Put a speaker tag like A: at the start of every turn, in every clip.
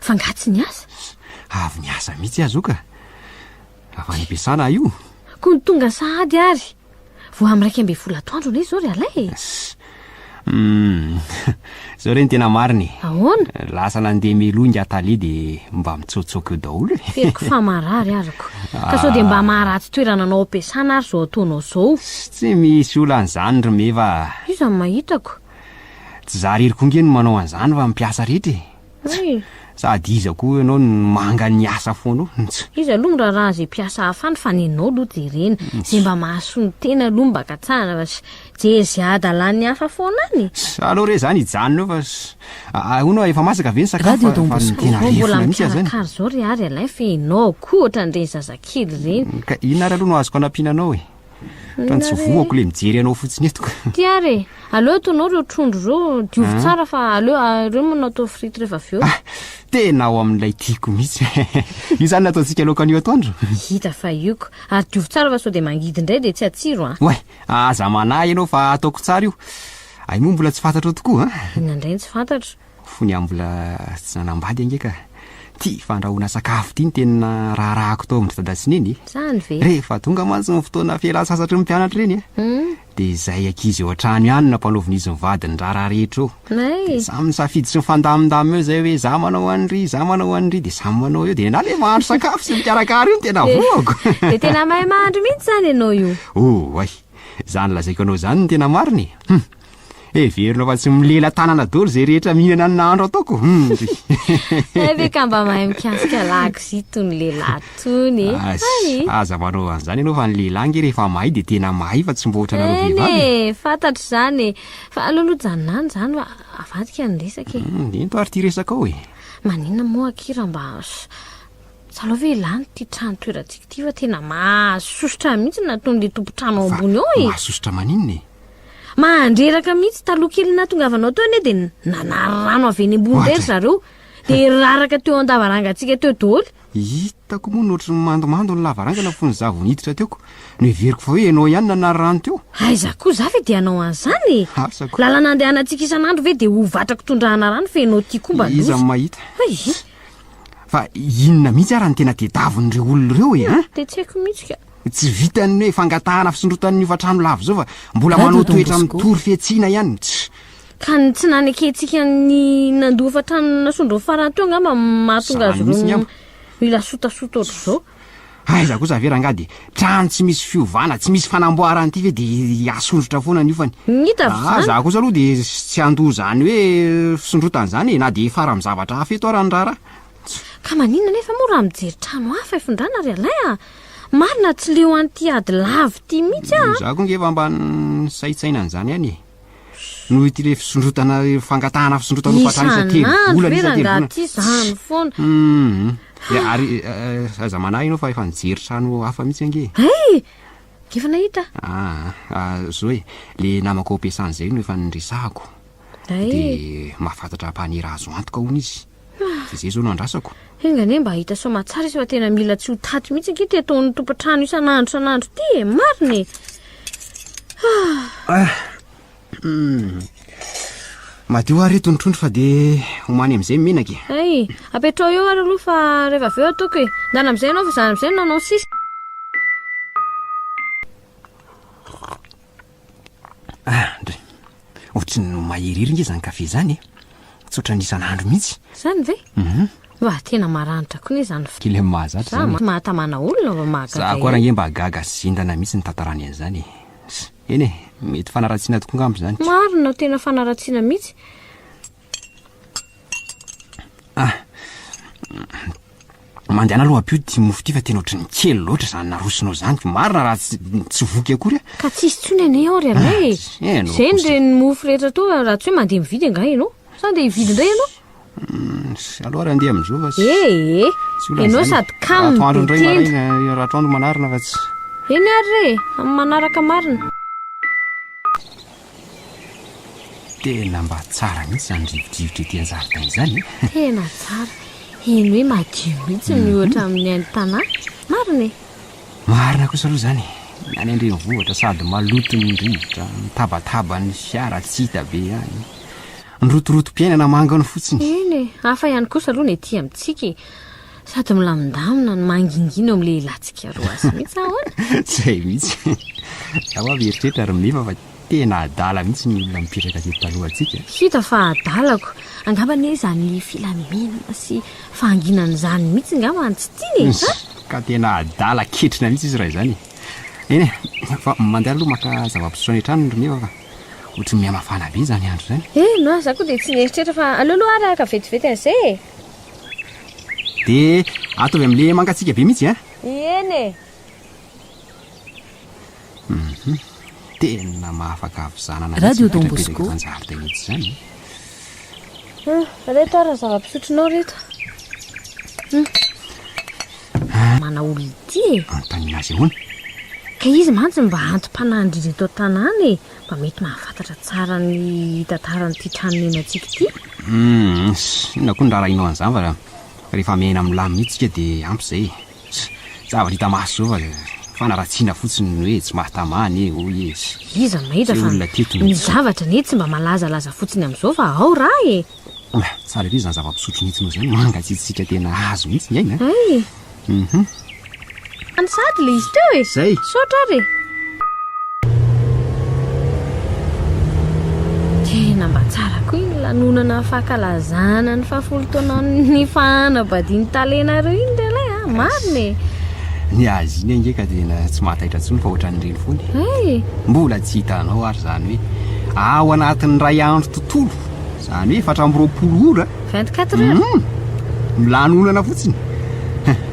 A: Fa nga tsy niasa? Avy niasa
B: mihitsy aho zoka. Avy any am-piasana aho io. Koa ny tonga
A: sahady ary. Vao amin'ny iraika ambin'ny folo atoandro anie izao ry Alain e. Hmm.
B: Izao re ny tena marina e. Ahoana? Lasa
A: nandeha
B: meloha ingahy Tale dia mba mitsaotsaoka eo daholo e. Fehiko fa marary
A: arako. Ka sao dia mba maharatsy toerana anao am-piasana ary izao ataonao izao. Tsy misy
B: olana izany ry Meva a. Iza no mahitako?
A: Tsy za
B: irery koa ange no manao an'izany fa ny mpiasa rehetra e. Tsa! Sady iza koa ianao no manga ny asa foana eo? Ntsa! Iza aloha miraharaha
A: izay mpiasa hafa any fa ny anao aloha jerena izay mba mahasoa ny tena aloha mba ka tsara fa sy jery izay hadalan'ny hafa foana any e! Sa aleo re izany hijanona
B: eo fa sy ahoana efa masaka ve ny sakafo fa fa ny tena Vao mbola rerfona mihitsy aza ny. mikarakara
A: izao ry
B: Ary alain
A: fa ianao koa ohatran'ireny zazakely ireny. Ka inona ary aloha no azoko
B: anampiana anao e? Tantsovoako le mijery anao fotsiny eto ka. Ty ary e,
A: aleo ataonao reo trondro reo, diovy ah. tsara fa aleo ah, reo manao atao frite rehefa avy eo. Ah, tena ao
B: amin'ilay tiako mihitsy. Io zany nataontsika laoka an'io atoandro. Hita fa ioko.
A: Ary diovy tsara fa sao dia mangidy indray dia tsy atsiro an. Oay, aza
B: manahy ianao fa ataoko tsara io. Ay moa mbola tsy fantatrao tokoa an. Inona indray tsy fantatro.
A: Fony aho mbola
B: tsy nanambady ange ka. Ty fandrahoana sakafo ty no tena raharahako tao amin-dry dada sy neny e. Zany ve? Rehefa
A: tonga mantsy ny
B: fotoana fialan-tsasatry ny mpianatra ireny e. Hmm? Dia izay ankizy eo an-trano ihany nampanaovin'izy ny vadiny ny raharaha rehetra eo. Nay. Dia samy nisafidy sy nifandamindamina eo izay hoe za manao an'iry, za manao an'iry, dia samy manao eo. Dia na le mahandro sakafo sy mikarakara io no tena voako. Dia tena mahay
A: mahandro mihitsy izany ianao io. Oh, hay.
B: Izany lazaiko anao izany no tena marina e. Hum. Heverina fa tsy milela-tanana daholo izay rehetra mihinana ny nahandro ataoko. Hmm, ry.
A: Hay ve ka mba mahay mikasika lakozia itony lehilahy itony. Hay. Aza
B: manao an'izany ianao fa ny lehilahy nge rehefa mahay dia tena mahay fa tsy mba ohatranareo Eny vehivavy. e, fantatro izany e.
A: Fa aleo aloha janona any izany fa avadika ny resaka e. Hmm, Ento ary ity resaka
B: ao e. Maninona moa
A: akia raha mba s- salao ve lany ity trano toerantsika ity fa tena mahasosotra mihitsy na ataon'ilay tompon-trano ao ambony ao e. Mahasosotra maninona e?
B: Mahandreraka
A: mihitsy, taloha kely nahatongavanao teo anie dia nanary rano avy eny ambony indray ry zareo, dia raraka teo an-davarangantsika teo daholo. Hitako moa
B: nohatry ny mandomando ny lavarangana fony za vao niditra teo ko. Noheveriko fa hoe ianao ihany nanary rano teo. Aiza koa, za ve dia
A: hanao an'izany e! Asako. Lalana andehanantsika isan'andro ve dia ho vatrako tondrahana rano fa ianao ity koa mba loza. Iza no mahita. Hay!
B: Fa inona mihitsy ara no tena tedavon'ireo olona ireo e? Dia tsy haiko mihitsy ka.
A: Tsy vitan'ny hoe
B: fangatahana fisondrotan'ny hofantrano lava izao fa mbola manao toetra mitory fihatsiana ihany ny tsy. Ka ny
A: tsy nanekentsika ny nandoa hofantrano nasondrony farany teo angamba no mahatonga azy ireo mila sotasota ohatr'izao. Aiza kosa
B: ve rangahy dia trano tsy misy fiovana, tsy misy fanamboarana ity ve dia asondrotra foana ny hofany? Ngita avy izany. Za kosa aloha dia tsy handoa izany hoe fisondrotana izany e, na dia hifara amin'ny zavatra hafa eto ara ny raharaha. Ka maninona
A: anefa moa raha mijery trano hafa ifindrana ry Alain a? Marina tsy leo an'ity ady lavo ity mihitsy aho. Izaho koa ngefa mba
B: nisaintsaina an'izany ihany e. Noho ity ilay fisondrotana fangatahana fisondrotana ho fatrany isa telo volana isa telo volana.
A: Ity izany foana. Hum. Ary
B: aza manahy ianao fa efa nijery trano hafa mihitsy ange. Hey! Efa
A: nahita. Ah,
B: zo e. Le namako ao Pesana izay no efa niresahako. Dia mahafantatra mpanera azo antoka hono izy. Dia izay izao no andrasako. Enga anie mba hahita
A: soa aman-tsara izy fa tena mila tsy ho taty mihitsy ange ity ataon'ny tompon-trano isan'andro isan'andro ity e, marina e. Ah. Ah. Hmm.
B: Madio ary eto ny trondro fa dia homany amin'izay menaka e. Ay, apetrao eo
A: ary aloha fa rehefa avy eo ataoko e. Ndana amin'izay ianao fa izany amin'izay no nanao sisa.
B: Andry, ohatrin'ny maherihery nge zany kafe zany e. Tsy ohatran'ny isan'andro mihitsy. Zany ve? Mhm.
A: Mba tena maranitra koa ne zany fa. Kely mahazatra Za zany.
B: mahatamana olona
A: vao mahagaga Za koa raha nge mba gaga
B: sy zindana mihitsy ny tantarany an'izany e. Eny e, mety fanaratsiana tokoa angamba izany. Marina, tena
A: fanaratsiana mihitsy. Ah,
B: mandehana aloha aby io ty mofo ty fa tena ohatry ny kely loatra izany narosonao izany ko marina raha tsy tsy voky akory a. Ka tsisy tsony anie
A: ao ry ah, anay e. Eh, Zay ny reny mofo rehetra to raha tsy hoe mandeha mividy angaha ianao. Sa ndeha hividy indray ianao? Mm,
B: aloha raha ndeha amin'izao fa tsy ee eh, eh. ianao
A: sady kamo be tenda.
B: Raha atoandro
A: manarina
B: fa tsy. Eny ary re,
A: amin'ny manaraka marina.
B: Tena mba tsara mihitsy izany rivodrivotra ety an-jaridaina izany e! Tena tsara.
A: Heno hoe madio mihitsy ny ohatra amin'ny haino tanà. Marina e! Marina
B: kosa aloha izany e! Ny any an-drenivohitra sady maloto ny rivotra, mitabataba ny fiara tsy hita be ihany. Ny rotorotom-piainana mangany fotsiny. Eny e! Hafa ihany
A: kosa aloha ny ety amintsika e! Sady milamindamina no mangingina eo amin'ny lehilahintsika roa azy mihitsy ahoana? Izay mihitsy.
B: Za ho'a mieritreritra ry Meva fa tena adala mihitsy ny olona mipetraka teto talohantsika. Hita fa adalako.
A: Angamba anie izany filaminana sy fahanginana izany mihitsy angamba no tsy tiany e. Sa? Ka tena
B: adala ketrina mihitsy izy raha izany e. Eny e, fa mandeha aloha maka zava-pisotro any an-tranony ry Meva fa ohatran'ny mihamafana be izany andro izany. Eny oa, za koa dia tsy
A: nieritreritra fa aleo aloha ary haka vetivety an'izay e. Dia
B: ataovy amin'ilay mangatsiaka be mihitsy an! Ieny e!
A: Hum,
B: tena mahafaka havizanana mihitsy ny toetra mipetraka eto
C: an-jaridaina eto izany e!
B: Hum,
A: reto ary ny zava-pisotronao reto. Hum. Ah. Manao olona ity e! Anontaniana azy ahoana?
B: Ka izy
A: mantsy mba anti-panahin-dry reto an-tanàna e! mba mety mahafantatra tsara ny tantaran'ity trano niainantsika ity. Hum,
B: inona koa ny raharahianao an'izany fa rehefa miaina amin'ny lamina io tsika dia ampy izay e. Zavatra hita maso izao fa fanaratsiana fotsiny ny hoe tsy mahatamana e, hoy izy. Iza mahita fa
A: ny zavatra anie tsy mba malazalaza fotsiny amin'izao fa ao raha e! Oa, tsara ery
B: izany zava-pisotro nitsinao izany, mangatsiatsiaka tena azo mihitsy ny aina. Hay e. Mhm.
A: Any sahady ilay izy teo e. Izay. Misaotra ary e. Tena mba tsara koa iny lanonana fankalazana ny fahafolo taonan'ny nifahana badin'ny talenareo iny ry lahy a. Marina e. Ny
B: azy iny ange ka tena tsy mahataitra intsony fa ohatran'ireny foana e. Hay e. Mbola tsy hitanao ary izany hoe ao anatin'ny iray andro tontolo Izany hoe efatra amby roapolo ora. 24 heures.
A: Hum, ny lanonana
B: fotsiny.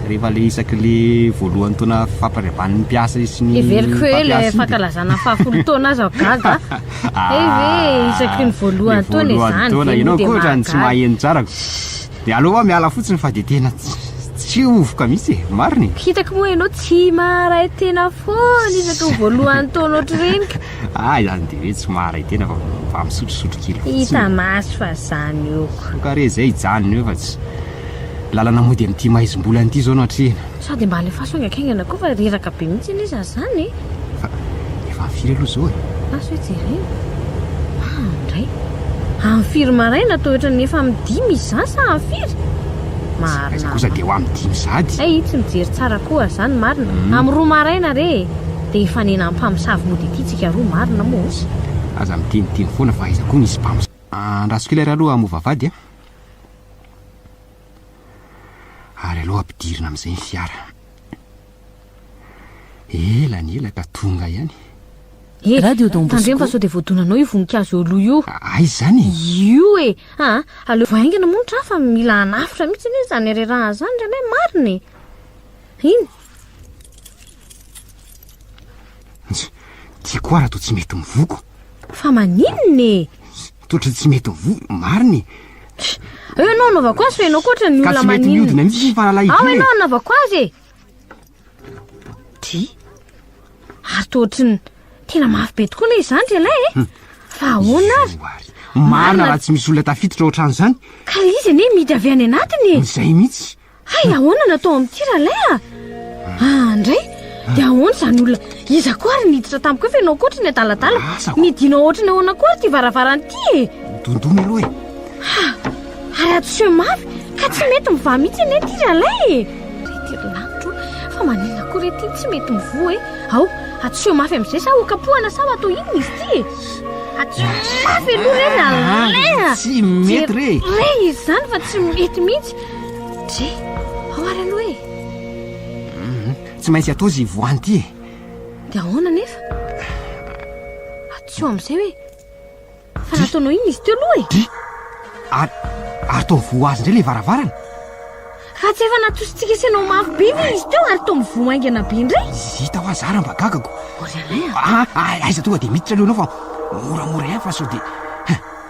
B: Rehefa le isaky le voalohan'ny taona fampariavan'ny mpiasa sy ny Heveriko hoe le mpampiasa iny dia-
A: fankalazana fahafolo taona aza aho gaga. Hay ve isaky ny voalohan'ny Le taona voalohan'ny izany taona, ve ianao no dia koa ohatrany tsy mahagaga.
B: maheno tsara. Dia aleo aho miala fotsiny fa dia tena tsy tsy hovoka mihitsy e. Marina e. Hitako moa ianao tsy
A: maharay tena foana isaky ny voalohan'ny taona ohatr'ireny ka. Ah izany dia hoe
B: tsy maharay tena fa mba misotrosotro kely fotsiny. Hita maso fa
A: zany ok. Ka re zay hijanona
B: eo fa tsy lalana mody amin'ity maizim-bolana ity zao no atrehina. Sady mba alefaso
A: haingankaingana koa fa reraka be mihitsy anie za zany e. Fa
B: efa firy aloha zao e? Asa hoe jerena.
A: Ah ndray. Amin'ny firy maraina toa ohatran'ny efa amin'ny dimy izy zany sa amin'ny firy? Marina. Aiza kosa dia ho amin'ny
B: dimy sady. Hay tsy mijery tsara
A: koa zany marina. Amin'ny roa maraina re e. Dia hifanena mpamosavy mody ity tsika roa marina moa osa. Aza miteniteny
B: foana fa aiza koa misy mpamosavy. Andrasoko ilay raloha hamoa vavahady a! Ary aleo ampidirina amin'izay ny fiara. Ela ny ela ka tonga ihany. He! Radio
C: Don Bosco. Tandremo fa sao dia voadonanao io
A: voninkazo eo aloha io. Aiza izany e?
B: Io e!
A: Aa! Aleo haingana moa ny tra fa mila hanafitra mihitsy anie izany reraha izany ry anay marina e! Iny!
B: Ty koa raha toa tsy mety mivoko. Fa maninona
A: e? Totra tsy
B: mety mivoko, marina e. Eo
A: ianao anaovako azy fa ianao koa ohatran'ny olona maninona. Ka tsy mety miodina mihitsy ny
B: fahalalahidina e. Ao ianao e. anaovako azy
A: e. Ty. Ary toa ohatran'ny tena mafy be tokoa ilay izany ry ialahy e. Hmm. Fa ahoana ary? Marina raha
B: tsy misy olona tafiditra ohatran'izany. Ka izy anie mihidy
A: avy any anatiny e. Izay mihitsy.
B: Hay ahoana no atao
A: amin'ity ralay a? Ah, ndray, dia ahoana izany olona? Iza koa ary niditra tamiko efa ianao koatra ny adaladala? Asako. Nidinao ohatry ny ahoana koa ary ity varavarana ity e? Dondona aloha
B: e.
A: Ha, ary hadisoe mafy ka tsy mety mivaha mihitsy anie ity ralay e. Rety ry lanitra o, fa maninona koa re ity tsy mety mivoha e? Ao, hadisoe mafy amin'izay sa ho kapohana sa ho atao inona izy ity e? Hadisoe mafy aloha re ralay a! Tsy mety
B: re. Re izy izany fa
A: tsy mety mihitsy. Dry, ao ary aloha e!
B: Tsy maintsy atao izy voany ity e! Dia ahoana
A: nefa? Atsoa amin'izay hoe fa nataonao iny izy teo aloha e! Dry, ary ary
B: toa mivoha azy indray ilay varavarana? Raha
A: tsy efa natositsika sy anao mafy be ve izy teo ary toa mivoha haingana be indray? Hita hoa zara mba
B: gagako! Ry Alain a! Aiza
A: tonga
B: dia miditra aloha ianao fa moramora ihany fa
A: sao
B: dia.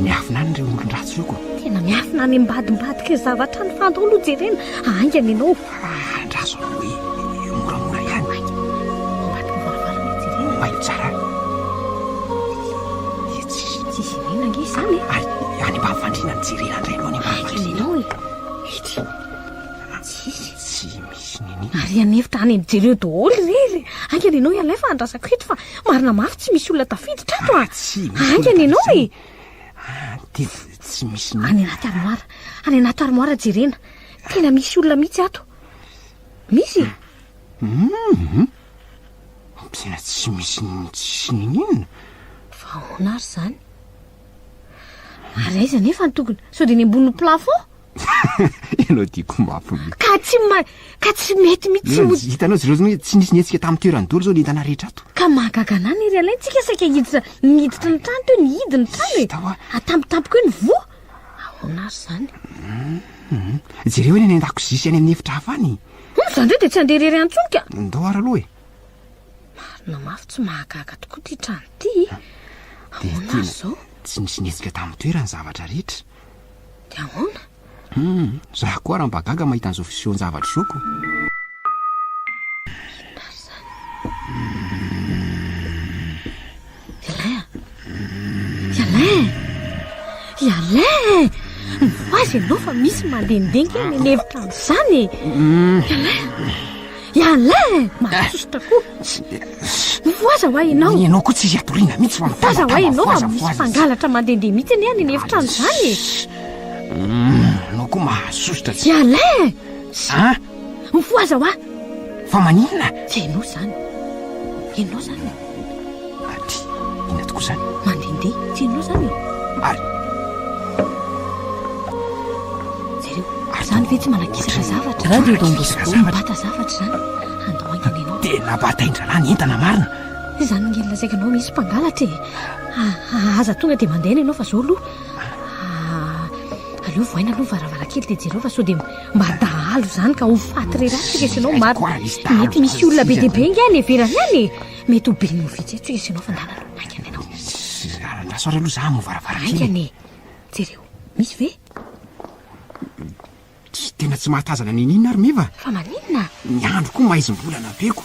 B: Miafina any ireo olon-dratsy ireo ko. Tena miafina any
A: ambadimbadika io zavatra any fa andao aloha jerena haingana ianao. Ah, andraso aloha
B: hoe eh, moramora ihany. Aika, ambadika
A: varavarana jerena. Mailo tsara. Dia tsy tsy jerena ange izany e. Ary any ambany fandriana
B: ny jerena indray aloha any ambany fandriana. Aika ianao e.
A: Ety. Tsisy. Tsy misy
B: nini. Ary anefitra any
A: jereo daholo irery. Aingana ianao ialahy fa andrasako eto fa Marina mafy tsy misy olona tafiditra ato a. Tsy misy. Haingana ianao
B: e. Devo tsy misy. Any anaty armoara.
A: Any anaty armoara jerena. Tena misy olona mihitsy ato. Misy e.
B: Hum. Tena tsy misy tsy ninina. Fa ahoana
A: ary izany? Ary aiza nefa ny tokony? Sao dia ny ambonin'ny plafond?
B: Ianao diako mafy mihitsy. Ka tsy ma ka
A: tsy mety mihitsy mo. Hitanao zireo zany tsy nisy
B: nihetsika tamin'ny toerany dolo zao ny entana rehetra ato. Ka mahagaga anah ny ry
A: alain tsika saika hiditra niditra ny trano teo ny hidy ny trano e. Tawa. Atampotampoka eo ny voa. Ahoana ary zany. Hum
B: jereo any any an-dakozia sy any amin'ny efitra hafa any. Hum zany indray dia tsy handeha
A: irery any intsony ka. Ndao ary aloha e.
B: Marina
A: mafy tsy mahagaga tokoa ity trano ity. Ahoana ary zao. Tsy nisy nihetsika tamin'ny
B: toerany zavatra rehetra. Dia ahoana?
A: Hum, zah
B: koa ara mba gaga mahita an'izao fisehoan-javatra izao ko. Inona ary izany?
A: I Alain a? I Alain! I Alain! Mivaza ianao fa misy mandehandeha kely any an'efitra any izany e! I Alain! Ialahy eh! Mahasosotra koa. Mifohaza ho ahy ianao. Ny ianao koa tsy izy atoriana
B: mihitsy fa mifohaza ho ahy ianao fa misy
A: mpangalatra mandehandeha mihitsy anie any efitrano izany e. Ianao
B: koa mahasosotra tsy. Ialahy eh!
A: Ah! Mifohaza ho ahy. Fa maninona?
B: Tsy ianao izany.
A: Ianao izany.
B: Aty, inona tokoa izany? Mandehandeha, tsy ianao
A: izany e? Ary? Jereo, izany ve tsy manakisaka zavatra? Radio Don Bosco.
C: Mibata zavatra izany,
A: handao haingana ianao. Tena bata ain-draharaha ny
B: entana marina. Izany ngeny lazaiko
A: anao misy mpangalatra e. Ah, aza tonga dia mandeha ny anao fa izao aloha. Ah, aleo vohaina aloha ny varavarankely dia jereo fa sao dia Mba dahalo izany ka ho faty re ratsy resy ianao maro. Mety misy olona be dia be ingahy any ivelany any e. Mety ho ben'ny ovidia tsy resy ianao fa ndana aloha maingana ianao. Andraso ary
B: aloha za hamoha varavarankely. Maingana e.
A: Jereo, misy ve?
B: Tena tsy mahatazana n'inon'inona ary Meva. Fa maninona?
A: Ny andro koa
B: maizim-bolana be ko.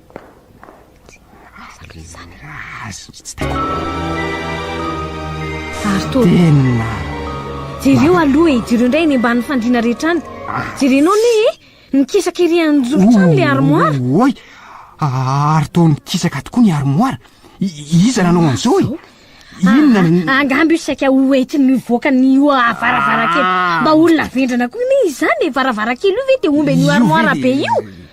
B: Jereo
A: aloha e, jereo indray eny ambany fandriana rehetra any. Jerenao ne e, nikisaka ery anjofitra any le armoire. Oy,
B: ary toa nikisaka tokoa ny armoire. Iza nanao an'izao e? Inona ah, ny... Ah, Angamby io saika
A: ho entin'ny voaka ny io varavarankely. Ah. Mba olona vendrana koa ne izany e, varavarankely io ve dia omben'io armoire be io?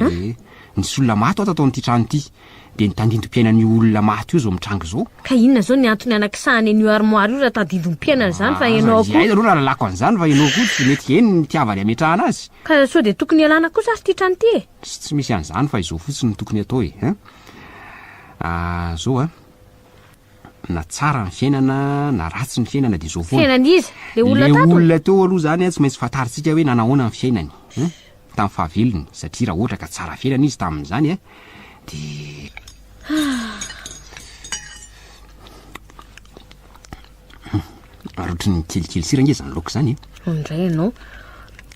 B: Ee, nisy olona maty ho'a tato amin'ity trano ity, dia ny tandindompiainan'io olona maty io izao mitranga izao. Ka inona izao ny antony
A: anakisahany an'io armoire io raha tandindompiainany izany fa Aza ianao koa. izay aloha rahalalako an'izany
B: fa ianao koa tsy mety heno ny itiavany hametrahana azy. Ka sao dia tokony ialana
A: kosa ary ity trano ity e? Tsy tsy misy an'izany fa
B: izao fotsiny no tokony atao e, hein? Ah, izao an! na tsara ny fiainana na ratsy ny fiainana dia izao foana. Fiainan'iza? Le olona
A: tato? Le olona teo
B: aloha
A: zany tsy
B: maintsy fantarintsika hoe nanao ahoana ny fiainany hein, tamin'ny fahavelony satria raha ohatra ka tsara fiainana izy tamin'izany hein dia Rotry ny kelikely sira nge zany laoka zany e. Hoy indray ianao.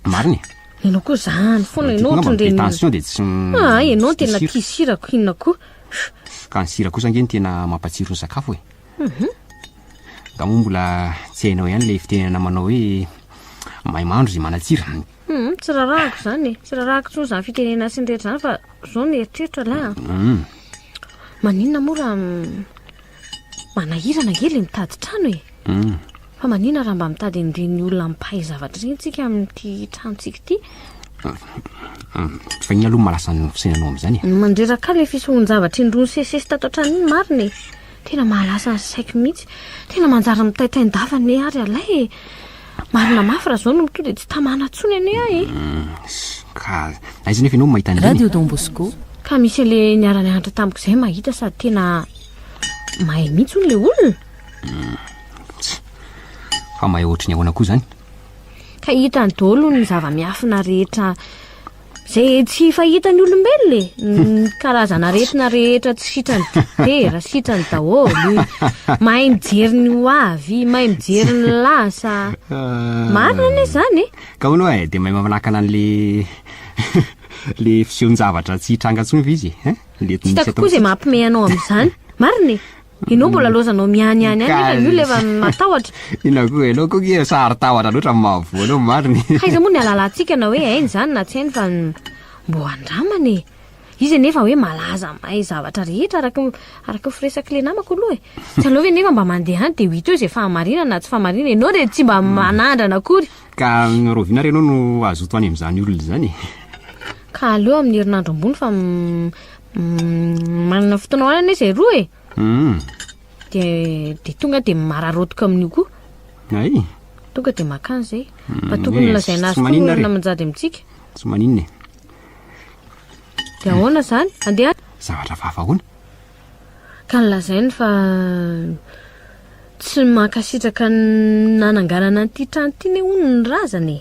A: Marina
B: e. Ianao koa
A: zany foana ianao ohatry ny reny. Tension dia tsy.
B: Ah ianao tena
A: tia sira ko inona koa. Ka ny sira
B: kosa ange no tena mampatsiro ny sakafo e. Nga moa mbola tsy hainao ihany ilay fitenenana manao hoe mahay mahandro izay manatsira. Hum, tsy rarahako
A: izany e. Tsy rarahako intsony izany fitenenana sy ny rehetra izany fa izao ny eritreritro aleha an. Maninona moa raha Manahirana ange le mitady trano e! Fa manina raha mba mitady an'ireny olona mpahay zavatra ireny tsika amin'ity tranontsika ity?
B: Fa iny aloha malasa ny fisainanao amin'izany e! Mandreraka le
A: fisohon-javatra indroa nisesisesy tato an-trano iny marina e! Tena mahalasa ny saiko mihitsy. Tena manjary mitaitaindafa anie ary ialahy e! Marina mafy raha zao no mitoa dia tsy tamana tsony anie ahy e. Hmm, ka
B: aiza nefa ianao mahita an'ireny? Radio Don Bosco.
C: Ka misy an'le
A: niara nianatra tamiko izay mahita sady tena mahay mihitsy hono le olona. Hmm, tsy.
B: Fa mahay ohatry ny ahoana koa zany? Ka
A: hitany daholo ny zava-miafina rehetra Izay tsy fahitan'ny olombelona e, ny karazana aretina rehetra tsy sitrany dokotera, sitrany daholo. Mahay mijery ny ho avy, mahay mijery ny lasa. Ah. Marina anie izany e. Ka hono e, dia mahay
B: mamanakana an'le le fisehoan-javatra tsy hitranga intsony ve izy e? Hein? Le Tsy misy hitako atao koa izay
A: intsony. mampime anao amin'izany. Marina e. Ianao mbola laozanao miany any any nefa io lefa matahotra. Inona koa ianao
B: koa nge sary tahotra loatra amin'ny maha voa anao marina e. Haiza moa ny halalantsika
A: na hoe hainy izany na tsy hainy fa mbo handramana e. Izy anefa hoe malaza mahay zavatra rehetra araka araka ny firesak'i le namako aloha e. Tsy aleo ve nefa mba mandeha any dia ho hita eo izay fahamarinana na tsy fahamarinana e. Ianao dia tsy mba manandrana akory. Ka rahoviana
B: ary ianao no hazoto any amin'izany olona izany e. Ka
A: aleo amin'ny herinandro ambony fa Mm, manana fotoana hoanana izy e roa e mm. de de tonga de mararotiko amin'io koa ay
B: tonga de
A: makany zay mm, fa tokony lazaina azy foana manjady amintsika tsy maninona e de ahoana zany andeha zavatra vavahoana
B: ka
A: nilazainy fa tsy mankasitraka nananganana an'ity trano ity ne hono ny razana e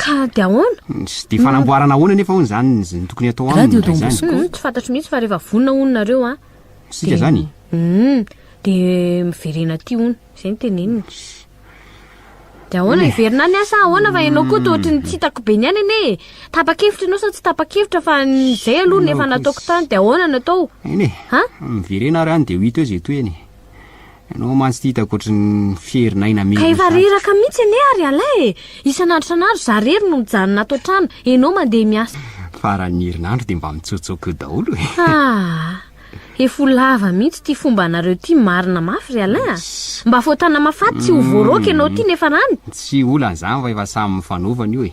B: Ka dia ahoana?
A: Dia fanamboarana
B: ahoana anefa hono izany ny tokony atao aminy indray izany? Hum, tsy
C: fantatro mihitsy fa rehefa
A: vonona hono nareo an. Isika izany?
B: Hum, dia
A: miverena aty hono, izay no teneniny. Dia ahoana hiverina any an sa ahoana fa ianao koa toa ohatran'ny tsy hitako be ny any anie e. Tapa-kevitra ianao sa tsy tapa-kevitra fa ny izay aloha ny efa nataoko tany dia ahoana no atao? Eny e, Ha?
B: miverena ary any dia ho hita eo izay tohiny e. Ianao mantsy ty hitako ohatry ny fierin'aina mihitsy. Ka efa reraka
A: mihitsy anie ary ialahy e. Isan'andro isan'andro za rery no mijanona ato an-trano, ianao mandeha miasa. Faran'ny herinandro
B: dia mba mitsotsoka eo daholo e. Ah!
A: Efa ho lava mihitsy ity fomba anareo ity marina mafy ry Alain a. Mba fao tanamafaty tsy ho voaraoka ianao ity nefa rany. Tsy olana izany
B: fa efa samy mifanova an'io e.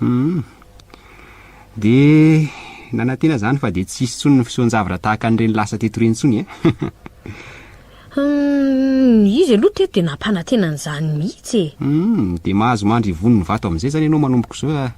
A: Humm.
B: Dia nanantena izany fa dia tsy hisy intsony ny fisoan-javatra tahaka an'ireny lasa teto ireny intsony eh. Humm,
A: izy aloha teto dia nampanantena an'izany mihitsy eh. Humm, dia mahazo
B: mandry ivony ny vato amin'izay izany ianao manomboka izao,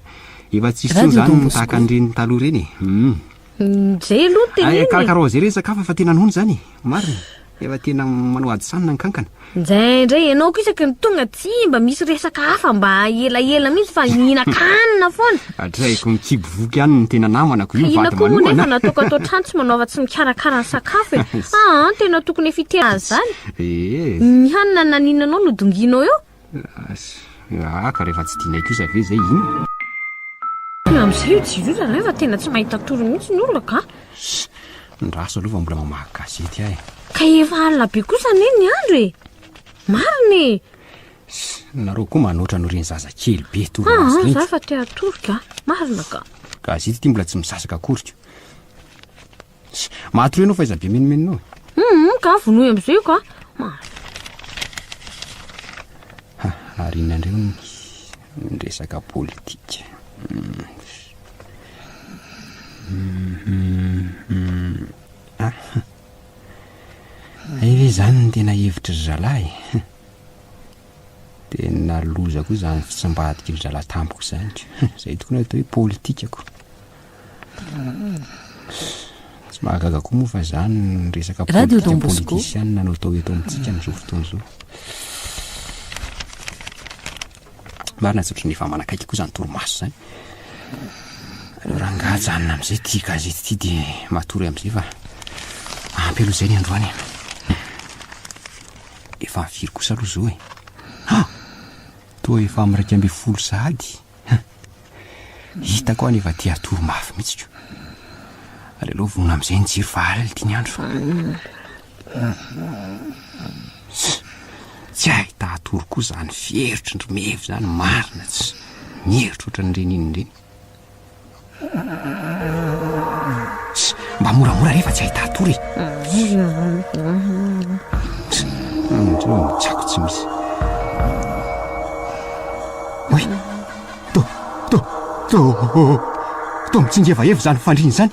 B: efa tsy hisy intsony izany ny tahaka an'ireny taloha ireny eh. Humm. Mjay aloha ny teneniny. Ay, karakara
A: oser izy
B: sakafo efa tena noana izany e.
A: Marina.
B: Efa tena manao ady sanina ny kankana. Mjay indray ianao ko
A: isaky ny tonga tsy mba misy resaka hafa mba elaela mihitsy fa hihinan-kanina foana. Atrehiko ny kibo
B: voky any ny tena namana ko io vady manohana. Ka inona ko moa nefa nataoko
A: ato an-trano tsy
B: manaova
A: tsy mikarakara ny sakafo e. Aa tena tokony efa hiteny azy izany. Ee. Ny hanina naninanao no dongianao eo.
B: Aah ka rehefa tsy dinay kosa ve zay inn? Tena
A: miseho i Jiroza zany fa tena tsy mahita tory mihitsy ny olona ka! Ssy! Ndraso
B: aloha fa mbola mamaky gazety aho e! Ka efa alina
A: be kosa anie ny andro e! Marina e! Ssy!
B: Nareo koa manoatra anao reny zaza kely be tory maso reny! Aa za efa te hatory
A: ka! Marina ka! Gazety ity mbola tsy
B: misasaka akory ko! Tch! Matory ianao f'aiza be menomenonao e? Hum, ka vonoy
A: amin'izay io ka. Ma- Ha,
B: ary inon'andreo ny ny resaka politika. Hmm. Mhm, mhm. Ah, ha. Hay ve izany ny tena hevitry zalahy? Hum. Tena loza koa izany fitsambadik'ry zalahy tampoka izany ka. Hum, izay tokoa no atao hoe politikako. Tsy mahagaga koa moa fa izany ny resaka politika politisianina no atao eto amintsika amin'izao fotoana izao. Marina tsy ohatran'ny efa manakaiky koa izany torimaso izany. Aleo rangahy ajanona amin'izay ity gazety ity dia matory amin'izay fa ampy aloha izay ny androany e. Efa firy kosa aloha izao e? Ha! Toa efa amin'ny iraika ambin'ny folo sahady. Hum. Hitako aho nefa tia atoro mafy mihitsy ko. Aleo vonona amin'izay ny jiro fa alina ity ny andro fa. Tsy ahita atoro koa izany fieritry ny Mevo izany marina tsy. Mihevitra ohatran'ireny inona ireny. Mba moramora re fa tsy ahita tory e. Andreo ny tsako tsy misy. Oy, to, to, to, to mitsingevaheva izany fandriana izany.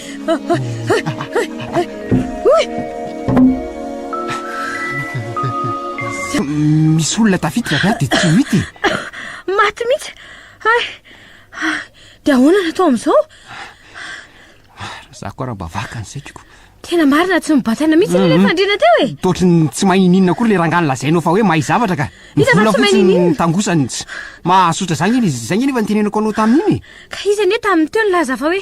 B: Misy olona tafiditra avy aho dia tsy mity e. Maty
A: mihitsy. Hay. Dia ahoana no atao amin'izao?
B: Za koa raha mba vakany saikiko. Tena marina tsy
A: mibatana mihitsy anie ilay mm-hmm. fandriana teo e. Toatry ny tsy mahay ininina
B: koa ilay rangahy lazainao fa hoe mahay zavatra ka. Iza fa tsy mahay ininina?
A: Tangosany.
B: Mahasotra zany izy. Zany anefa ny tenenako anao tamin'iny. Ka izy anie tamin'ny
A: teo nilaza fa hoe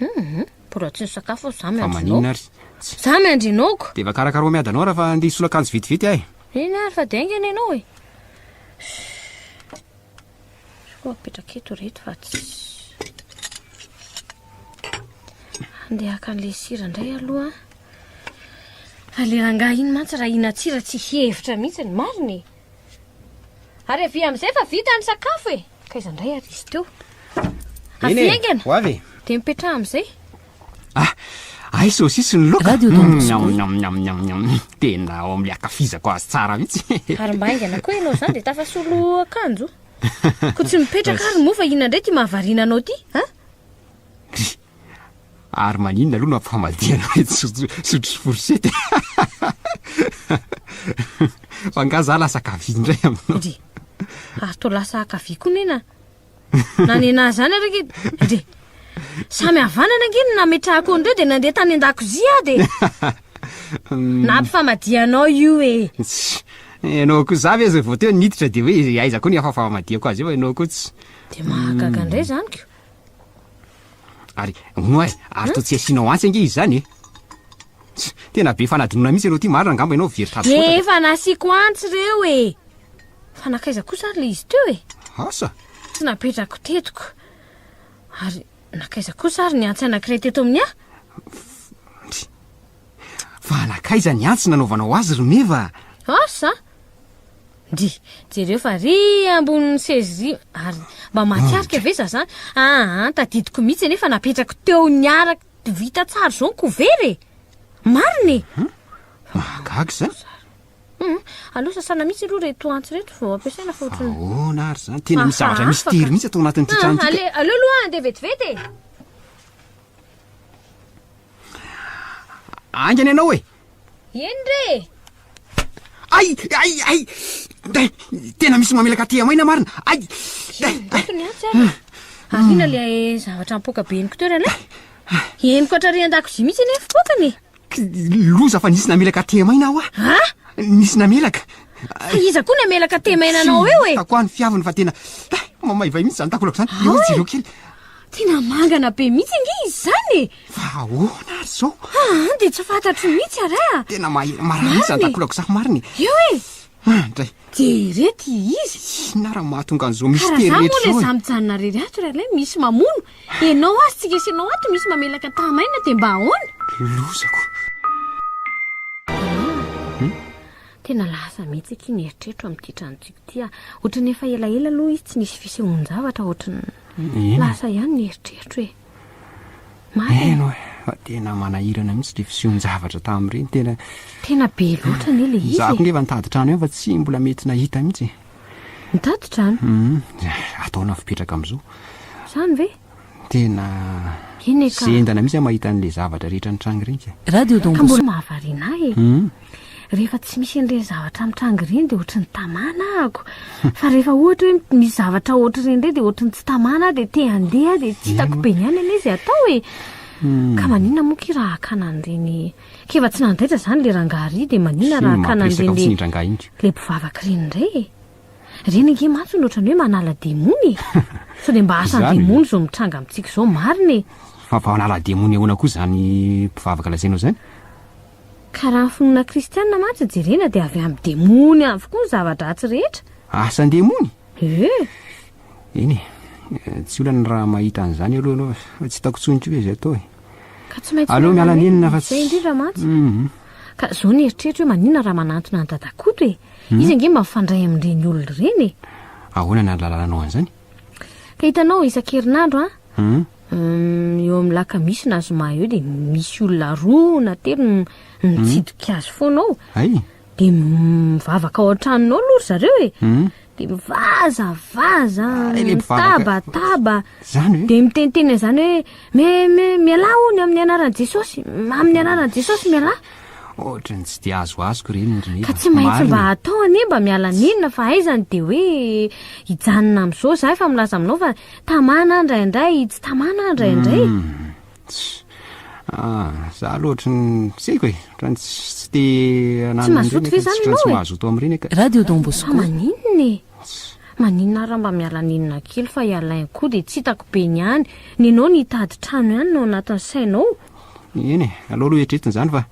B: Hum, mbola tsy nisakafo
A: aho za Fa maninona miandrinao. ary?
B: Tsy.
A: Za
B: miandrinao
A: ko! Dia va karakara ho miady anao
B: raha fa andeha hisolo akanjo vetivety ahy. Eny ary fa dia haingana
A: ianao e! Izy koa apetraka eto ireto fa tsy. Andeha haka an'ilay sira indray aloha. Fa ilay rangahy iny mantsy raha hihinan-tsira tsy hihevitra mihitsy ny marina e! Ary avia amin'izay fa vita ny sakafo e! Ka iza indray ary izy teo? Eny e, Avia haingana! ho avy e!
B: Dia mipetraha amin'izay.
A: Ah,
B: ahy saosisy ny laoka. Radio Don Bosco. Miam, miam,
C: miam, miam, miam.
B: Tena ao amin'ny ankafizako azy tsara mihitsy. Ary mba haingana koa ianao
A: izany dia tafasolo akanjo. Koa tsy mipetraka ary moa fa inona indray ity mahavariana anao ity, an?
B: Ary maninona aloha no ampifamadihana hoe sotro sy fourchette e? Fa angaha za lasa kavia indray aminao? Ndry,
A: ary toa lasa kavia koa nena. Na nena zany ary ange, ndry. Samy havanana ange ny nametrahako an'ireo dia nandeha tany an-dakozia aho dia nampifamadia anao io e. Tsy, ianao
B: koa za ve izay vao teo niditra dia hoe aiza koa ny afafamadihako azy eo ianao koa tsy. Dia mahagaga
A: indray izany ko.
B: Ary hono aza, ary toa tsy asianao antsy ange izy izany e! Tena be fanadinoana mihitsy ianao ity, marina angamba ianao very tady foana. Dia efa nasiako antsy
A: ireo e! Fa nankaiza kosa ary ilay izy teo e? Asa? Tsy napetrako teto ko. Ary nankaiza kosa ary ny antsy anankiray teto amin'ny ahy?
B: Fa nankaiza ny antsy nanaovanao azy ry Meva? Asa?
A: Ndrii. Jereo fa ry ambonin'ny seza ry ary mba mahatsiarika ve za zany? Aa tadidiko mihitsy anie fa napetrako teo niaraka vita tsara zao ny couvert e! Marina e!
B: Mahagaga izany. Hum,
A: aleo sasana mihitsy aloha reto antsy reto vao ampiasaina fa ohatran'ny Ahoana ary izany? Tena
B: misy zavatra Hafa, afaka. mistery mihitsy ato anatin'ity Ah, trano ity. ale- aleo aloha andeha vetivety
A: e!
B: Haingana ianao e! Eny re e!
A: Ay! Ay!
B: Ay! Dai! Tena misy mamelaka aty amaina marina! Ay!
A: Dai! Dai! Ny atsy ary! Ariana le zavatra ampoka be ny kitoerana e! Henoko hatrarian-dakozia mihitsy anie fipoakana e! Loza
B: fa nisy namelaka aty amaina aho a! Ha? Nisy namelaka! Fa iza koa
A: namelaka aty amaina anao eo e? Hitako aho ny fiaviny fa tena
B: Dai! Mamaivay mihitsy izany takolako izany! Eo izy ireo kely! Tena
A: mangana be mihitsy ange izy izany e! Fa ahoana
B: ary izao? Aa, dia tsy fantatro
A: mihitsy ary a! Tena mahery marary mihitsy
B: izany takolako izany marina e! Eo e!
A: Ah, ndray!
B: Dia ireto
A: izy! Inona ary no mahatonga
B: an'izao misitery rehetra izao e? Ka raha izany moa ilay izaho
A: mijanona irery ato
B: ry
A: Alain, misy mamono. Ianao ary tsy resy anao ato, misy mamelaka taha-maina, dia mba ahoana? Lozako! Tena lasa mihitsy akia ny eritreritro amin'ity tranontsika ity a. Ohatran'ny efa elaela aloha izy tsy nisy fisehoan-javatra ohatran'ny lasa ihany ny eritreritro e. Marina.
B: Eny oe, fa tena manahirana mihitsy ilay fisehoan-javatra tamin'ireny, tena Tena be
A: loatra anie ilay izy e. Izaho koa ngefa nitady trano ihany fa
B: tsy mbola mety nahita mihitsy e. Nitady
A: trano? Humm, ataonao
B: fipetraka amin'izao. Izany ve?
A: Tena zendana mihitsy aho mahita an'ilay
B: zavatra rehetra nitranga ireny ka. Radio Don Bosco. Ka mbola
C: mahavariana ahy e.
A: Rehefa tsy misy an'ireny zavatra mitranga ireny dia ohatry ny tamana ahako. Fa rehefa ohatra hoe misy zavatra ohatr'ireny indray dia ohatry ny tsy tamana aho dia te handeha dia tsy hitako be ny ahy ny an'ilay izy atao e. Ka maninona moa ki raha hakana an'ireny k'efa tsy nandaitra izany ilay rangahy iry dia maninona raha hakana an'ireny ilay mpivavaka ireny indray e. Ireny ange mantsy no ohatran'ny hoe manala demony e! Sao dia mba asan'ny demony izao mitranga amintsika izao marina e! Fa vao hanala
B: demony ahoana koa izany mpivavaka lazainao izany?
A: Ka raha ny finoana kristianina mantsy jerena dia avy amin'ny demony avokoa ny zava-dratsy rehetra. Asan-demony?
B: Ee.
A: Eny e,
B: tsy olana raha mahita an'izany aloha ianao fa tsy hitako intsony koa ve izay atao e! Ka tsy maintsy
A: miala nenina fa tsy... Izay
B: indrindra mantsy. Mhm.
A: Ka izao ny eritreritro hoe maninona raha manantona an'i Dada Koto e? Hmm. Izy ange mba mifandray amin'ireny olona ireny e. Ahoana ny alalalanao
B: an'izany? Ka hitanao
A: isan-kerinandro an, hmm. hmm, eo amin'ny lakamisy na zoma eo dia misy olona roa na telo mitsidika azy foana ao. Ay. Dia mivavaka ao an-tranonao aloha ry zareo e. dia mivazavaza, mitabataba, dia
B: miteniteny an'izany hoe
A: me me mialà hono amin'ny anaran'i Jesosy, amin'ny anaran'i Jesosy mialà. Ohatran'ny tsy
B: dia azo azoko ireny ry Ka tsy maintsy mba
A: atao anie mba miala nenina fa aizany dia hoe hijanona amin'izao za efa milaza aminao fa tamana indraindray, tsy tamana indraindray. Hmm. Ah,
B: za aloha ohatry ny tsy haiko e, ohatran'ny tsy te hananana Tsy mazoto ve
A: zany ianao e? Tsy mazoto amin'ireny eka. Radio
B: Don Bosco. Fa
C: maninona e?
A: Maninona ary raha mba miala nenina kely fa i Alain koa dia tsy hitako be ny any. Nenao ny hitady trano ihany no ao anatin'ny sainao. Eny e,
B: aleo aloha eritreretina izany fa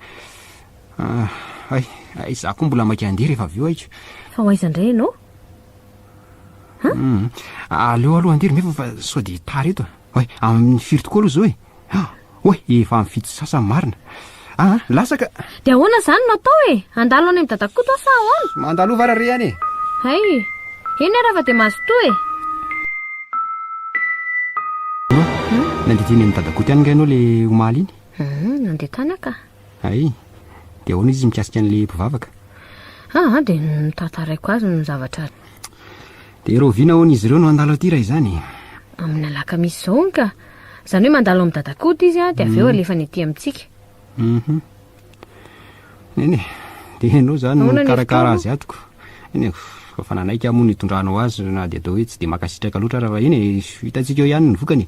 B: ah, hay, hay za koa mbola maika handeha rehefa avy eo haiko. Fa ho aiza indray ianao?
A: Hum,
B: aleo aloha handeha ry Meva fa sao dia tara eto. Oay, amin'ny firy tokoa aloha izao e? Oay, efa amin'ny fito sy sasany marina. Ah, lasa ka! Dia ahoana
A: izany no atao e? Handalo any amin'i Dadakoto aho sa ahoana? Mandalova ary re any e!
B: Hay!
A: Eny ary afa-dia mazotoa e!
B: Nandeha teny amin'i Dadakoto ihany ange ianao ilay omaly iny? Nandeha tany aho ka!
A: Hay!
B: Dia ahoana izy mikasika an'ilay mpivavaka? Ah, ah, dia
A: notantaraiko azy ny zavatra. Dia
B: rahoviana ahoana izy ireo no handalo aty raha izany e? Amin'ny alakamisy
A: izao hono ka. Izany hoe mandalo amin'ny dadakody izy an, dia avy eo mm. alefany aty amintsika. Mhm.
B: Nene, dia ianao izany no mikarakara azy atoko. Nene, fa nanaiky amono itondranao azy na dia atao hoe tsy dia makasitraka loatra raha iny e. hitantsika eo ihany ny vokany.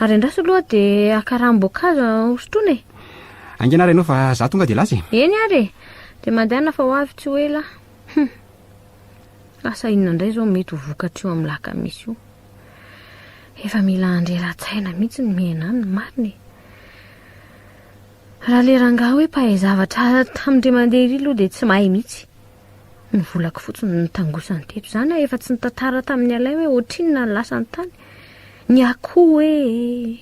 B: Ary andraso aloha dia
A: haka ranom-boankazo hosotroina e! Haingana ary ianao fa
B: izaho tonga dia lasa e! Eny ary e!
A: Dia mandehana fa ho avy tsy ho ela aho. Hum! Asa inona indray izao mety ho vokatr'io amin'ny lakamisy io? Efa mila handreran-tsaina mihitsy ny miaina any, marina e! Raha ilay rangahy hoe mpahay zavatra tamin-dry mandeha ery aloha dia tsy mahay mihitsy. Ny volako fotsiny no nitangosany teto. Izany aho efa tsy nitantara tamin'i Alain hoe ohatrinona ny lasany tany. Ny akoho e!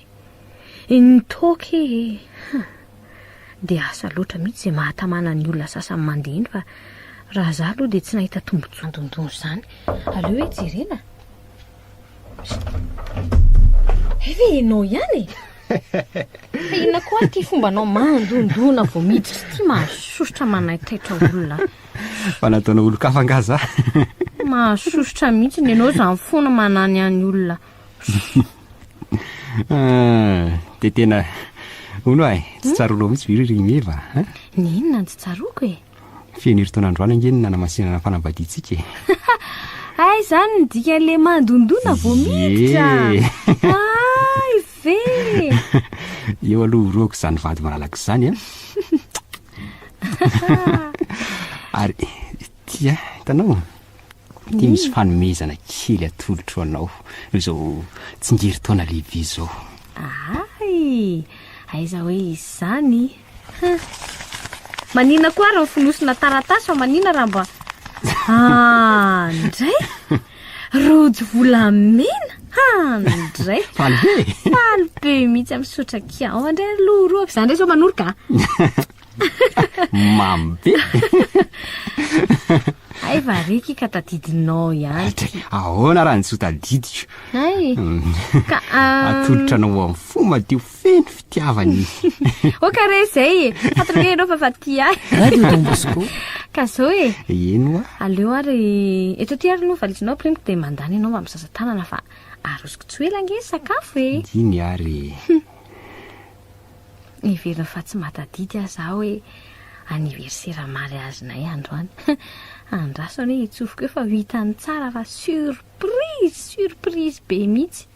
A: Ny toaka e! Hum. Dia asa loatra mihitsy izay mahatamana ny olona sasany mandeha iny fa raha izaho aloha dia tsy nahita tombontsoa nandondona izany. Aleo hoe jerena? Hay ve ianao ihany e? Fa inona koa ary ty fombanao mandondona vao miditra ity mahasosotra manaitaitra olona. Fa nataonao
B: olon-kafa angaha za? Mahasosotra
A: mihitsy ny ianao izany foana manany any olona. Ah,
B: dia tena hono ay, tsy tsaronao mihitsy ve ry Meva? Ny inona no tsy
A: tsaroako e? Feno herintaona androany
B: ange ny nanamasinana ny fanambadiantsika e. Hay
A: izany ny dikan'ilay mandondona vao miditra. Hay ve!
B: Eo aloha horohako izany vady malalako izany a. Ary tia, hitanao? Ity hmm. misy fanomezana kely atolotro anao noho izao tsingerin-taona lehibe izao. Ay,
A: aiza hoe izany? Hum. Manina koa ary ny fonosina taratasy fa manina raha mba Ah, ndray Rojo volamena Ah, ndray Faly be Faly be mihitsy amin'ny sotrakia Ao andray ry loroako Za ndray zao manoroka
B: Mamy be
A: Ay vareky ka tadidinao ihany Dray, ahoana raha ny tsy
B: ho tadidiko Ay mm.
A: Ka ah, Atolotra
B: anao amin'ny fo madio feno fitiavana izy o ka
A: re izay e fantatra hoe ianao fa fa tia ahy radio don bosco
C: ka zao e
A: eno a aleo
B: ary
A: eto ty ary no valizinao primiko dia mandany ianao mba mizaza tanana fa arosoko tsy ho ela ange sakafo e diny ary niverina fa tsy matadidy aho za hoe anniversaire mariazinay androany andraso anie hitsofiko eo fa ho hitany tsara fa surprise surprise be mihitsy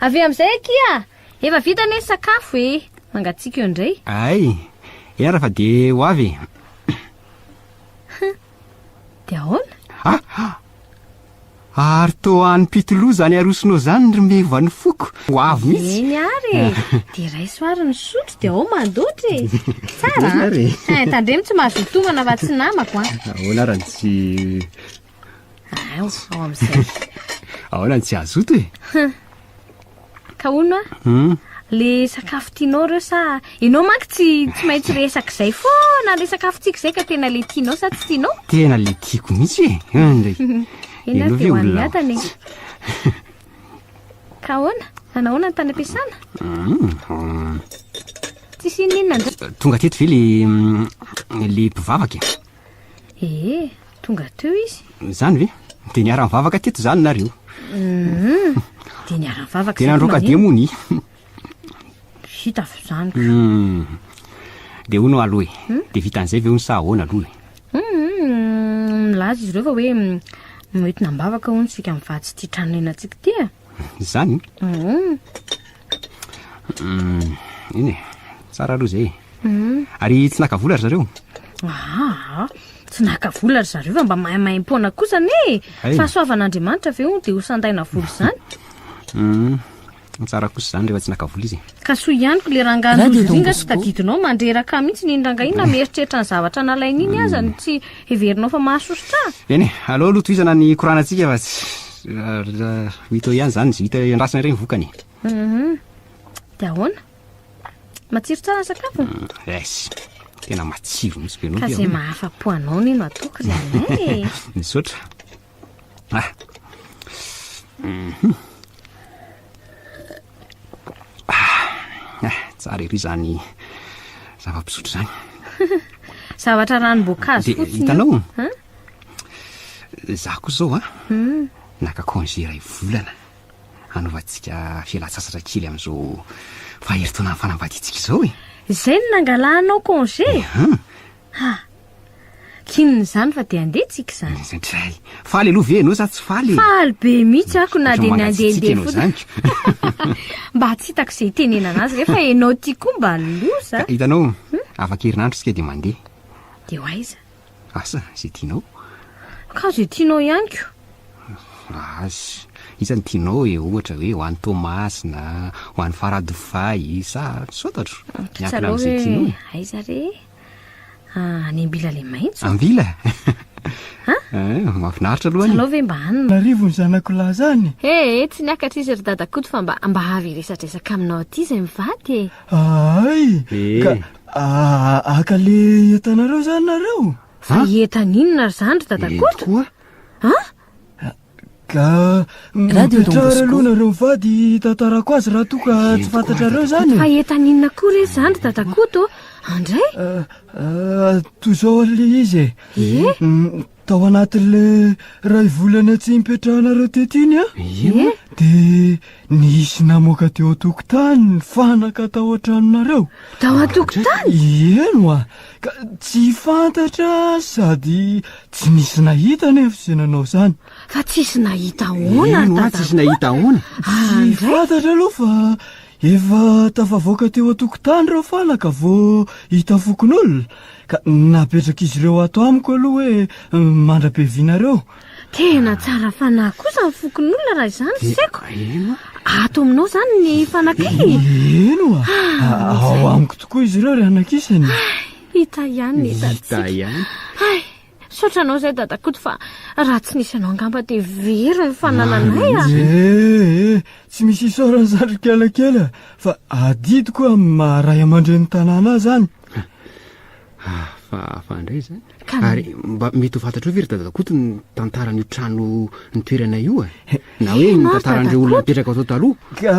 A: avy amin'izay akia Efa vita anie sakafo e! Mangatsiaka eo indray. Ay!
B: Era fa dia ho avy
A: e! Dia ahoana? Ah!
B: Ary toa any Pitolou izany arosonao izany ry meva ny foko! Ho avy mihitsy! Eny ary e!
A: Dia raiso ary ny sotro dia ao mandoatra e! Tsara an! Tandremo tsy mahazoa tomana fa tsy namako an! Ahoana ary ny tsy... Ao, ao amin'izay. Ahoana
B: ny tsy hazoto e?
A: Ka hono a? Hmm? Le sakafo tianao reo sa ianao manko tsy tsy maintsy resaka izay foana le sakafo tiako izay ka tena le tianao sa tsy tianao? Tena le tiako mihitsy e.
B: Indray. Ena Ianao ve dia
A: ho an'ny olona hatany e. Ka ahoana? Nanahoana ny tany am-piasana? Hmm, hmm. Tsisy inona inona indray. Tonga teto ve le
B: mm, le mpivavaka e? Ee, tonga
A: teo izy. Izany ve?
B: Dia niara-nivavaka teto izany nareo. Mhm.
A: Dia niara-nivavaka. Dia nandroaka demony. Vita avy izany. Hmm.
B: Dia hono aloha e. Hmm? Dia vita an'izay ve hono sa ahoana aloha e? Hmm,
A: milaza izy ireo fa hoe noentina am-bavaka hono isika mivady sy tia trano nenantsika ity e. Zany?
B: Uum. Umm, eny e, tsara aloha izay e. Umm. Ary tsy naka vola ry zareo? Aa, tsy naka vola ry zareo fa mba maimaim-poana kosa anie e. Hay. Fahasoavan'Andriamanitra ve hono dia ho sandaina vola izany? Umm, tsara kosa izany rehefa tsy naka vola izy e. Ka soa ihany ko le
A: rangahy Radio Don nozoriana tsy Bosco. tadidinao mandreraka mihitsy iny rangahy iny na mieritreritra ny zavatra nalainy iny aza no tsy Heverinao fa mahasosotra? Eny e, aleo aloha
B: tohizana ny koranantsika fa tsy ho hita eo ihany izany, tsy hita andrasana irery ny vokany e. Mhm.
A: Dia ahoana? Matsiro tsara ny sakafo? Mm, es,
B: tena matsiro mihitsy be anao Ka ty izay ahoana? mahafa-po
A: anao nino atoky ry anay e. Misaotra.
B: Ah. Mhm. Ah. Ah, tsara ery zany zava-pisotro zany.
A: Zavatra ranom-boankazo fotsiny. Hitanao? Hein?
B: Za koa zao a. Ah. Hmm. Naka congé iray volana. Hanaovantsika fialan-tsasatra kely amin'izao faheritaonan'ny fanambadiantsika
A: izao e.
B: Izay no
A: nangalanao
B: congé? Eh,
A: Ha! K'inona izany fa dia handeha tsika izany? Izay. Faly
B: aloha ve ianao sa tsy faly e? Faly be mihitsy
A: ako na dia ny handehandeha fotsiny.
B: Mba tsy hitako
A: izay hitenenana azy rehefa ianao ity koa mba loza. Ka hitanao, hmm?
B: afak'herinandro isika dia mandeha. Dia ho aiza?
A: Asa, izay
B: tianao. Ka izay
A: tianao ihany ko. Asa,
B: iza ny tianao e, ohatra hoe ho any Toamasina, ho any Faradofay, sa misaotra atro. Miankina amin'izay tianao. Aiza re?
A: Ah, any ambila le maitso. Ambila? Ha?
B: Eh, mafinaritra aloha Tsy alao ve mba any? Narivo
A: ny zanako lahy
D: zany. He, eh, tsy niakatra
A: izy ry dada Koto fa mba mba avy hiresadresaka aminao aty izay mivady e. Ahay. Eh.
D: Ka
B: ah,
D: aka le entanareo zany nareo? Fa entan'inona
A: ry zany ry dada Koto? Koa? Ah,
B: Ka
D: mipetrara
C: aloha nareo mivady
D: hitantarako azy raha toa ka tsy fantatrareo izany. Fa etaninona koa
A: re izany ry dadakoto? Andray? Ah, ah,
D: toy izao ilay izy e. Ie? Mm, tao anatin'ilay ray volana tsy nipetrahanareo teto iny a. Ie? Dia nisy namoaka teo an-tokotany ny fanaka tao an-tranonareo. Tao an-tokotany?
A: Ieno a.
D: Ka tsy fantatra sady tsy nisy nahita anefa izay nanao izany. Fa tsisy nahita
A: ahoana ry dadako? Tsisy nahita ahoana?
B: Tsy fantatra
D: aloha fa efa tafavoaka teo an-tokotany ireo fana ka vao hita fokonolona ka napetrak'izy ireo ato amiko aloha hoe mandra-piavianareo. Tena
A: tsara fanahy kosa ny fokonolona raha izany eh, seko. Eno. Ato aminao izany ny fanakay. Eh, eh, eno a.
D: Ah, ah, ao amiko tokoa izy ireo ry anakisany. Hita
A: ihany ny tatsika. Hita ihany. Hay,
B: saotra
A: anao izay dadakoto fa raha tsy nisy anao angamba dia very ny fanananay a. Eh,
D: tsy misy isaorany izany ry kialakely fa adidiko amin'ny maha ray aman-dren'ny tanàna azy any. Hafahafa
B: indray izany. Ary mba mety ho fantatrao ve ry dadakoto ny tantaran'io trano ny toerana io e? Na hoe ny tantaran'ireo olona mipetraka tao taloha. Ka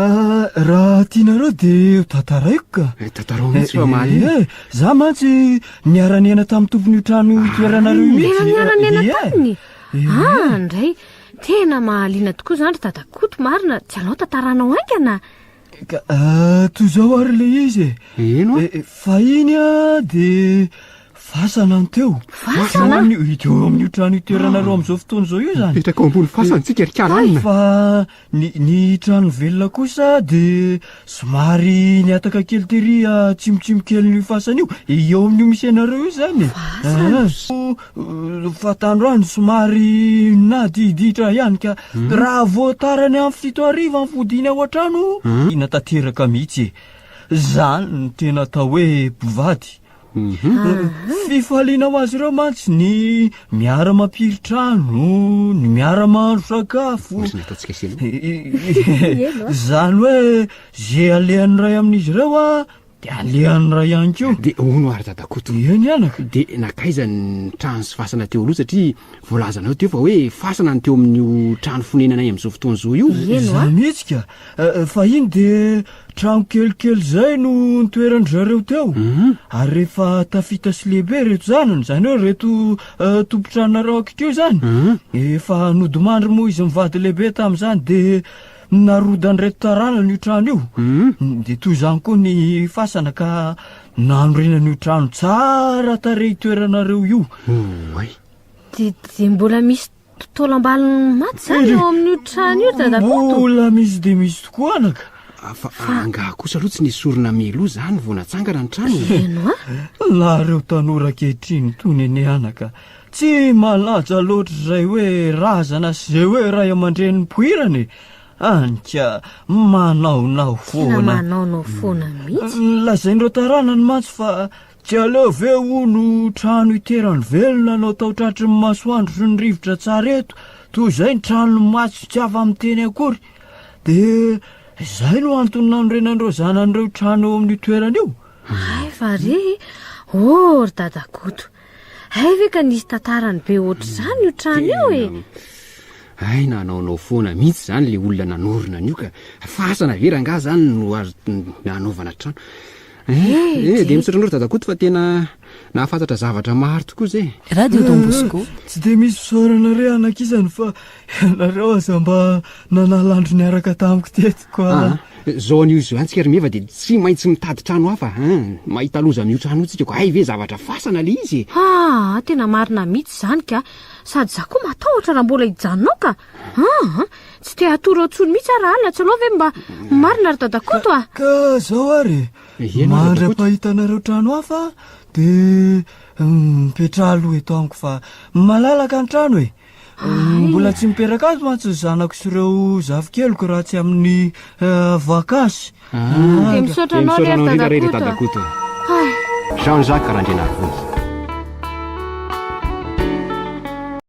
D: raha tianareo dia tantaraiko ka. Eh, tantarao mihitsy fa
B: mahaliana. Eh, za mantsy
D: niara-niaina tamin'ny tompon'io trano io toeranareo ah, mihitsy. Niara-niaina
A: eh, taminy. Ah, ndray. Tena mahaliana tokoa izany ry dadakoto, marina. Tsy anao tantaranao haingana. Ka
D: toy izao ary ilay izy e. Eno a.
B: Fahiny a
D: dia fasana ny teo. Fasana? Eo
A: amin'io
D: trano itoeranareo amin'izao fotoana izao io izany. Mipetraka ao ambony fasana tsika
B: ry kalanina. Fa ny
D: ny trano velona kosa dia somary nihataka kely tery atsimotsimo kelin'io fasana io. Eo amin'io misy anareo io izany e. Fasana? Fanta androany somary nadiditra ihany ka hmm. raha voatara ny amin'ny fito ariva ny fodiany ao an-trano hmm. ina tanteraka mihitsy e zany ny tena atao hoe mpivady hmm. fifaliana ho azy ireo mantsy ny miara mampiritrano ny miara mahandro sakafo zany hoe ze alehan'ny ray amin'izy ireo a Dia alehan'ny ray ihany koa. Dia hono ary dada
B: Koto. Eo ny anaka. Dia
D: nakaiza ny
B: trano sy fasana teo aloha satria voalazanao teo fa hoe fasana ny teo amin'io trano fonenanay amin'izao fotoana izao io. Iza mihitsy ka.
D: Fahiny dia trano kelikely izay no nitoeran-dry zareo teo. Ary rehefa tafita sy lehibe ireto zanany, izany hoe ireto tompon-tranonareo ankitr'io izany, efa nodimandry moa izy mivady lehibe tamin'izany dia Narodan'ireto taranany io trano io, hmm. dia toy izany koa ny fasana ka nanorenana io trano tsara tarehy toeranareo io. Oay. Dia
A: mbola misy totolam-baliny maty zany eo amin'io trano io dadakoto. Mbola misy dia misy
D: tokoa anaka. Ah, fa angaha
B: kosa aloha tsy nesorina meloa zany vao natsangana ny trano. Ianao?
A: Nareo
D: tanora ankehitriny toy nene anaka. Tsy malaja loatra izay hoe razana sy izay hoe ray aman-dreny nipoirana e. Any ka, manaonao foana. Tena manaonao foana
A: mihitsy. Lazain'ireo taranany
D: mantsy fa tsy aleo ve hono trano iterany velona no atao tratry ny masoandro sy ny rivotra tsara eto, toy izay ny tranon'ny maty tsy afa-miteny akory. Dia izay no antony nanorenan'ireo zanany ireo trano eo amin'io toerana io. Hay fa re,
A: oh ry dadakoto, Hay ve ka nisy tantarany be ohatr'izany io trano io e! Hay
B: nanaonao foana mihitsy izany le olona nanorina an'io ka fasana ve rangaha izany no azo nanaovana trano. Eh, eh, eh dia misaotra anao ry dadakoto fa tena nahafantatra zavatra maro tokoa izay. Radio Don Bosco.
C: Tsy dia misy fisaorana
D: re anakisany fa Ianareo aza mba nanala andro niaraka tamiko teto koa. Ah,
B: zao anio zao ihany tsika ry Meva dia tsy maintsy mitady trano hafa hein. Mahita loza amin'io trano io tsika ko. Hay ve zavatra fasana le izy e. Ah, tena marina
A: mitsy zany ka. Sady za koa matahotra raha mbola hijanona ao ka. Ah, tsy te hatory ao tsony mitsy ah raha alina tsy aleo ve mba marina ry Dada Koto ah. Ka zao
D: ary e. Mandra pahitanareo trano hafa dia mipetraha aloha eto amiko fa malalaka ny trano e. Mbola tsy mipetraka ato mantsy ny zanako sy ireo zafikeliko raha tsy amin'ny eh, vakansy. Ah. Dia
A: misaotra anao lery Misaotra
B: anao indrindra
A: Dada Koto. Jean
B: Jacques
A: Randrianarivony.